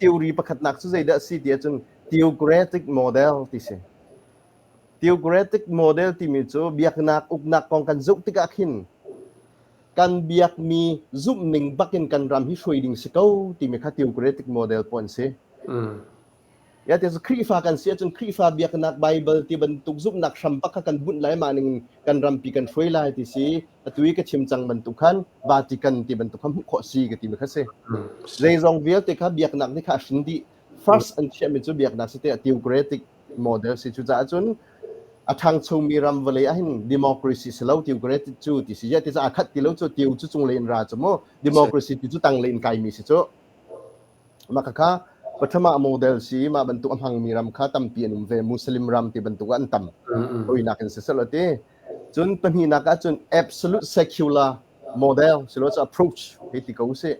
theory pakhatnak cu zeidah a si ti ahcun theocratic model ti si. Theocratic model timi cu biaknak uknak kong kan zoh tikah khin kan biakmi zumh ning bakin kan ram hi hruai ding si ko timi kha theocratic model puan si. Mm. Ya ti Khrihfa kan si ahcun Khrihfa biaknak Bible ti bantuk zumhnak hram bak kha kan bunh lai ma ning kan rampi kan hruai lai ti si atu i ka thim cang bantuk khan Vatican ti bantuk kha hmuh khawh si ka ti mi kha si. Zeizong vialte kha biaknak ni kha a hrin dih. First an chiahmi cu biaknak si tiah theocratic model si cu caah cun a ṭhangchomi ram vawlei ahhin democracy si lo theocratic cu ti si ya ti caah khat ti lo cu teo cu cunglei in ra cu mu democracy ti cu tanglei in kaimi si cu maka kha pathama model si ma bantuk a hmangmi ram kha tampi an um ve muslim ram ti bantuk an tam hawinak in si selo ti Cun pahnihnak ah cun absolute secular model si lo approach hei ti ko sih.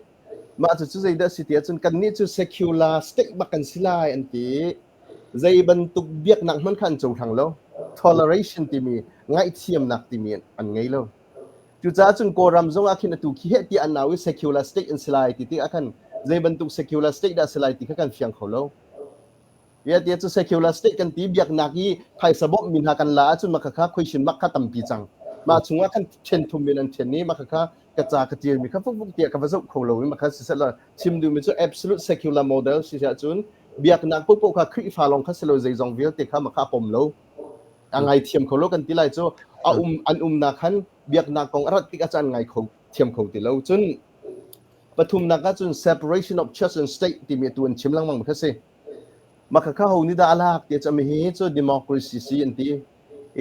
Mah cucu zeidah si ti ahcun kannih cu secular state bak kan si lai an ti. Zei bantuk biaknak hmanh kha an cohlang lo. Toleration timi ngaihthiamnak timi an ngei lo. Cucaah cun Kawlram zongah khin atu khi heh ti an nau i secular state an si lai ti tikah khan zei bantuk secular state dah si lai ti kha kan fiang kho lo. Vialte cu secular state kan ti biaknak i phaisa bawmh mi hna kan la ahcun mah kha khoishin mah kha tampi cang. Mah chungah kan ṭhen thum men an ṭhen i mah kha ka ca ka ṭial mi kha fukfuk tiah ka va zoh kho lo i mah kha sisehla chim duh mi cu absolute secular model si ahcun biaknak poahpoah kha Khrihfa lawng kha si lo zeizong vialte kha mah kha a pom lo a ngaithiam kho lo kan ti lai cu a um an umnak khan biaknak kong a rat tik ah cun an ngai kho thiam kho ti lo cun pathumnak ah cun separation of church and state timi tu an chim lengmang mi kha si Makhakha ho nih dah a lak ti cami hi cu democracy si an ti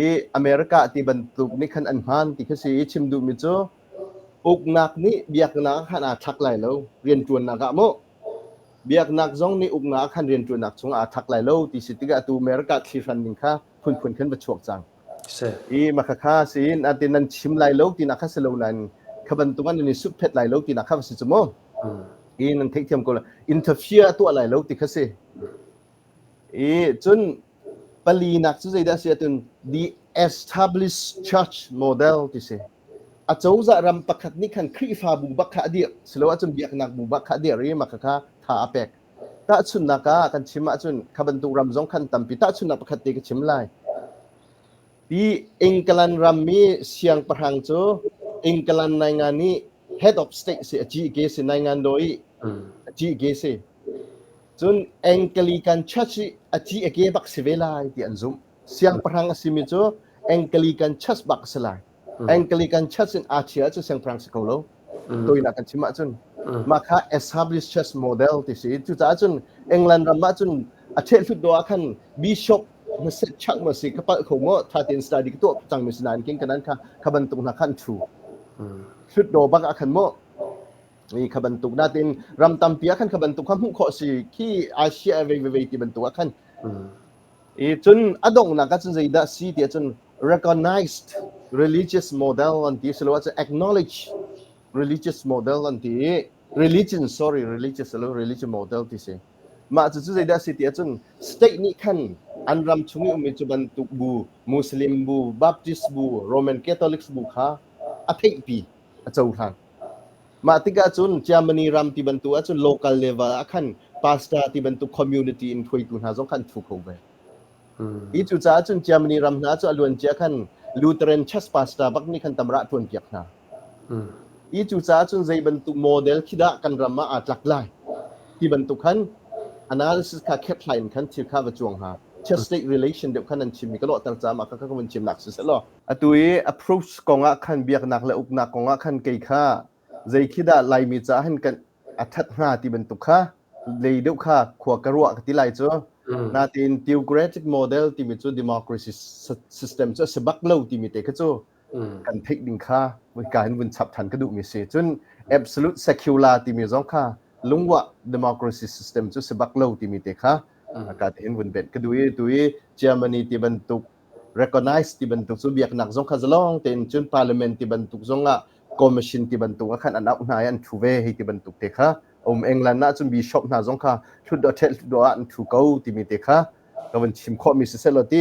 i America ti bantuk nih khan an hman ti kha si i chim duhmi cu uknak nih biaknak khan aa thlak lai lo rianṭuannak ah mu biaknak zong nih uknak khan rianṭuannak chungah aa thak lai lo ti si tikah atu America thlihran ning kha phunphun khan va chuak cang. i makhakha siin ati nan chim lai lo tina kha si lo nain kha bantuk an ni suphet lai lo tina kha si cu mu i nan theihthiam ko interfere tuah lai lo ti kha si i cun pali nak cu zeidah si atun the established church model ti si acozah ram pakhat nih khan khrifa bu bak kha a dir silo ahcun biaknak bu bak kha a dir i makhakha tha a pek Tahchunhnak ah kan chim ahcun kha bantuk ram zong khan tampi tahchunhnak pakhat te ka chim lai. Pi England rammi siangpahrang cu England naingan i head of state si a cih ke si naingan do i a cih ke si cun Anglican Church i a cih a ke bak si ve lai ti an zumh siangpahrang a simi cu Anglican Church bak a si lai Anglican Church in aa chia ahcun siangpahrang si kho lo. Tawinak kan chim ahcun. Mah kha established church model ti si. Cucaah cun England ram ahcun a ṭhehlut dawh ah khan bishop hmasat chak ma si ka palh kho mo tha tein study ka tuah cang mi si nain king kanan kha ka bantuk na khan thu hrut do bak a khan mo ni ka bantuk natin ram tampi ah khan ka bantuk kha hmuh kho si ki Asia ve ve ti bantuk a khan I cun a donghnak ah cun zeidah si ti ahcun recognized religious model an ti siloah cu acknowledge religious model an ti i religion sorry religious lo religion model ti si mah cu cu zeidah si ti ahcun state nih khan an ram chung i ummi cu bantuk bu muslim bu baptist bu roman catholics bu kha a theihpi a cohlan Mah tikah cun Germany ram ti bantuk ahcun local level ah khan pastor ti bantuk community in hruaitu hna zong kha an thu kho ve. Hi cucaah cun Germany ram hna cu a luancia khan Lutheran church pastor bak nih khan tamrah ṭuan piak hna. Hi cucaah cun zei bantuk model khi dah kan ram ah aa tlak lai ti bantuk khan analysis kha khethlai in khan thil kha va cuang hna. Church state relation deuh khan an chimmi ka lawhter caah mah kha ka vun chimnak si seh law Atu i approach kong ah khan biaknak le uknak kong ah khan kei kha zei khi dah Laimi caah hin kan a ṭhat hnga ti bantuk kha lei deuh kha khua ka ruah ka ti lai cu. Mm. Natin theocratic model timi cu democracy system cu a si bak lo timi te kha cu mm. kan theih ding kha ka in vun chap ṭhan ka duhmi si. Cun absolute secular timi zong kha lungwah democracy system cu si bak lo timi te kha ka te hin vun benh ka duh i tu i Germany ti bantuk recognize ti bantuk cu biaknak zong kha zalong tein cun parliament ti bantuk zong ah commission ti bantuk ah khan an auh hna i an thu ve hei ti bantuk te kha um england ah cun bishop hna zong kha hlutdaw ṭhet hlutdaw ah an thu ko timi te kha ka van chim khawhmi si seh law ti